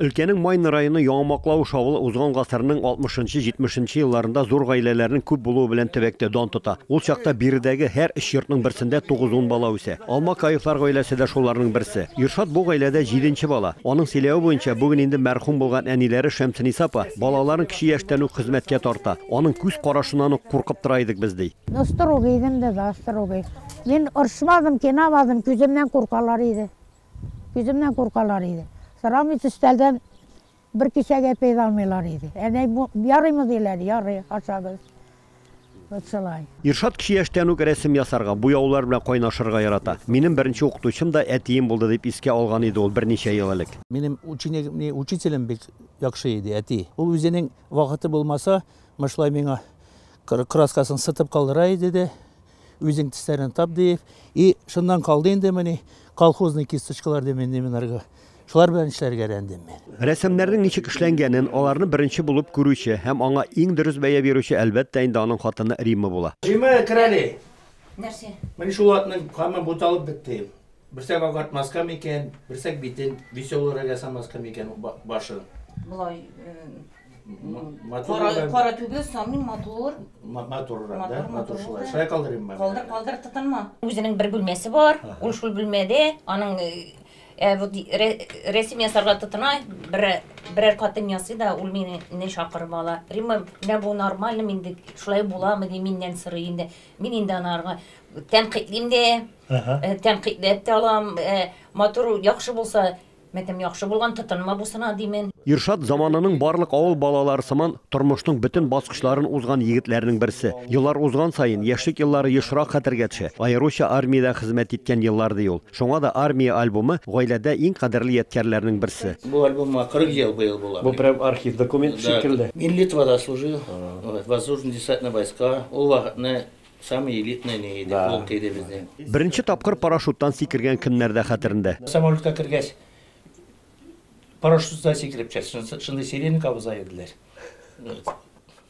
Өлкәнең Майны районы Яңа Маклавыш авылы узган гасырның 60 нчы, 70 нче елларында зур гаиләләрнең күп булуы белән төбәктә дан тота. Ул чакта биредәге һәр өч йортның берсендә тугыз-ун бала үсә. Алмакаевлар гаиләсе дә шуларның берсе. Илшат бу гаиләдә җиденче бала. Аның сөйләве буенча, бүген инде мәрхүм булган әниләре Шәмсениса апа балаларын кече яшьтән үк хезмәткә тарта. Аның күз карашыннан ук куркып тора идек без, ди. Ну строгый идем дә, да, строгый. Мин орышмадым, тыйнамадым, күземнән куркалар иде. Үземнән куркалар иде. Сорамый төстәлдән бер кисәк әпәй дә алмыйлар иде. Әнәй, бу ярыймы диләр, ярый, ашагыз. Вот шулай. Иршат кече яшьтән үк рәсем ясарга, буяулар белән кайнашырга ярата. Минем беренче укытучым да әтием булды, дип искә алган иде ул берничә ел элек. Минем ученикны учителем бик яхшы иде, әти. Ул үзенең вакыты булмаса, мышлай миңа краскасын сытып калдыра иде дә, Үзең тисләрен тап диеп, и шуннан калды инде мени колхозный кисточкалар дим инде мин арга. Шулар белән эшләргә рәндем мин. Рәсемнәрнең ничек эшләнгәнен, аларны беренче булып күрүче һәм аңа иң дөрес бәя бирүче, әлбәттә инде, аның хатыны Римма була. Римма, керәле. Нәрсә? Менә шул атның камы буталып бетте. Берсәк агартмаска микән, берсәк битен веселорак ясамаска микән башын? Болай матур. Кара түгел, самый матур. Матуррак, да? Матур шулай. Шулай калдырыйм мен. Калдыр, калдыр, тотынма. Үзенең бер бүлмәсе бар, ул шул бүлмәдә, аның вот рәсем ясарга тотына, бер берәр катын ясый да, ул мине чакырып ала. Римма, менә бу нормальный, мин шулай буламы ди, миннән сорый инде. Мин инде анарга тәнкыйтьлим дә. Тәнкыйтьләп тә алам. Матур, яхшы булса, мәкем яхшы булган, тотынма бусына, димен. Иршат заманының барлык авыл балалары сыман, тормышның бөтен баскычларын узган егетләрнең берсе. Еллар узган саен, яшьлек еллары ешрак хәтергә төшә. Аеруча армиядә хезмәт иткән еллар, ди ул. Шуңа да Армия альбомы, гаиләдә иң кадерле ядкярләрнең берсе. Бу альбомга 40 ел быел була. Бу прям архив документы шикелле. Мин Литвада служил, воздушно-десантный войска. Ул вакытны Самый элитный ни иде, Да. полк иде безнең. Беренче тапкыр парашюттан сикергән көннәрдә хәтерендә. Самолетка кергәч, парашютсыздан сикереп төшәсең, шунысы, шундый сиренка абыза иделәр.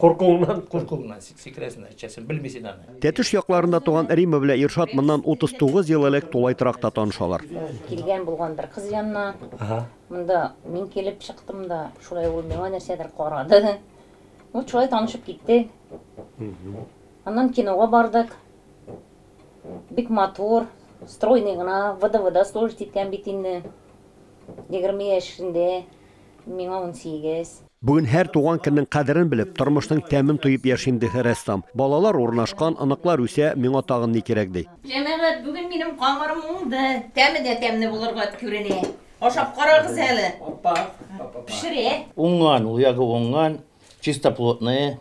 Куркуыңнан? Куркуыңнан сик- сикерәсең дә төшәсең, белмисең аны. Тәтеш якларында туган Рима белән Иршат моннан 39 ел элек тулай торакта танышалар. Килгән булган бер кыз янына. Ага. Монда мин килеп чыктым да, шулай ул миңа нәрсәдер карады. Вот шулай танышып киттек. Аннан кинога бардык. Бик матур, стройный гына, ВДВда служить иткән бит инде. Егерме яшендә, миңа унсигез. Бүген һәр туган көннең кадерен белеп, тормышның тәмен тоеп яшим, ди рәссам. Балалар урнашкан, оныклар үсә, миңа тагын ни кирәк, ди. Җәмәгать, бүген минем камырым уңды. Тәме дә тәмле булырга күренә. Ашап карагыз әле. Пешерә. Уңган, ул ягы уңган, чистоплотные,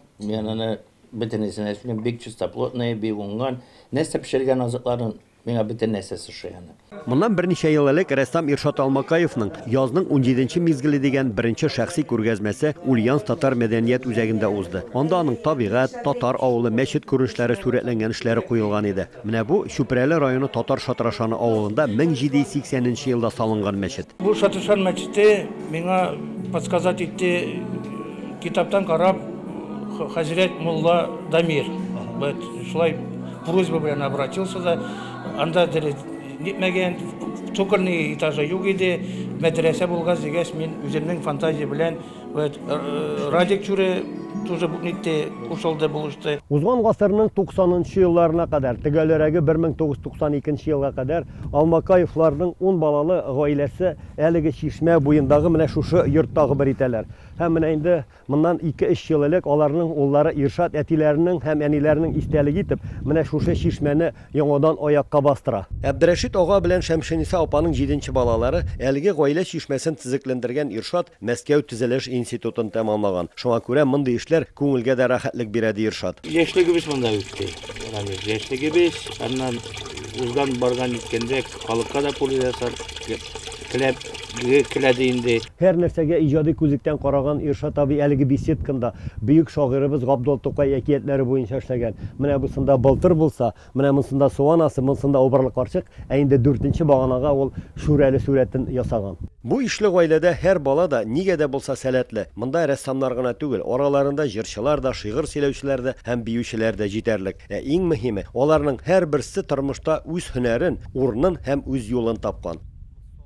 Бөтенесен дә эшлим, бик чистоплотные, бик уңган. Нәрсә пешергән азыкларын, миңа бөтен нәрсәсе ошый аны. Моннан берничә ел элек рәссам Иршат Алмакаевның Язның унҗиденче мизгеле дигән беренче шәхси күргәзмәсе Ульяновск татар мәдәният үзәгендә узды. Анда аның табигать, татар авылы, мәчет күренешләре сурәтләнгән эшләре куелган иде. Менә бу, Чүпрәле районы Татар Шатрашаны авылында 1780 нче елда салынган мәчет. Бу Шатрашан мәчете миңа подсказать итте, китаптан карап, хәзрәт мулла Дамир бәт шулай просьба белән обратился да, анда дерес нитмәгән, цокольный этажы юк иде, мәдрәсә булгач дигәч, мин үземнең фантазия белән, Вәт, э, э, Радик Чүре тоже бу нитте, кушылды, булышты. Узган гасырның 90-нчы елларына кадәр, төгәлрәге 1992 елга кадәр Алмакаевларның ун балалы гаиләсе әлеге чишмә буендагы менә шушы йорттагы бер итәләр. Һәм менә инде моннан 2-3 ел элек аларның уллары Иршат әтиләренең һәм әниләренең истәлеге итеп менә шушы чишмәне яңадан аякка бастыра. Әбдрәшит ага белән Шәмшениса апаның җиденче балалары, әлеге гаилә чишмәсен төзекләндергән Иршат Мәскәү төзелеш институтын тәмамлаган. Шуңа күрә мондый эшләр күңелгә дә рәхәтлек бирә, ди Иршат. Яшьлегебез монда үтте, Рамил. Яшьлегебез, аннан узган-барган җиткәндә халыкка да польза ясадык. Теләге киләде инде. Һәр нәрсәгә иҗади күзлектән караган Иршат абый әлеге беседканда бөек шагыйребез Габдул Тукай әкиятләре буенча эшләгән. Менә бусында Былтыр булса, менә монсында Су анасы, монсында Убырлы карчык, ә инде дүртенче баганага ул Шүрәле сурәтен ясаган. Бу ишле гаиләдә һәр бала да нигә дә булса сәләтле. Монда рәссамнар гына түгел, араларында җырчылар да, шигырь сөйләүчеләр дә һәм биючеләр дә җитәрлек. Ә иң мөһиме, аларның һәрберсе тормышта үз һөнәрен, урынын һәм үз юлын тапкан.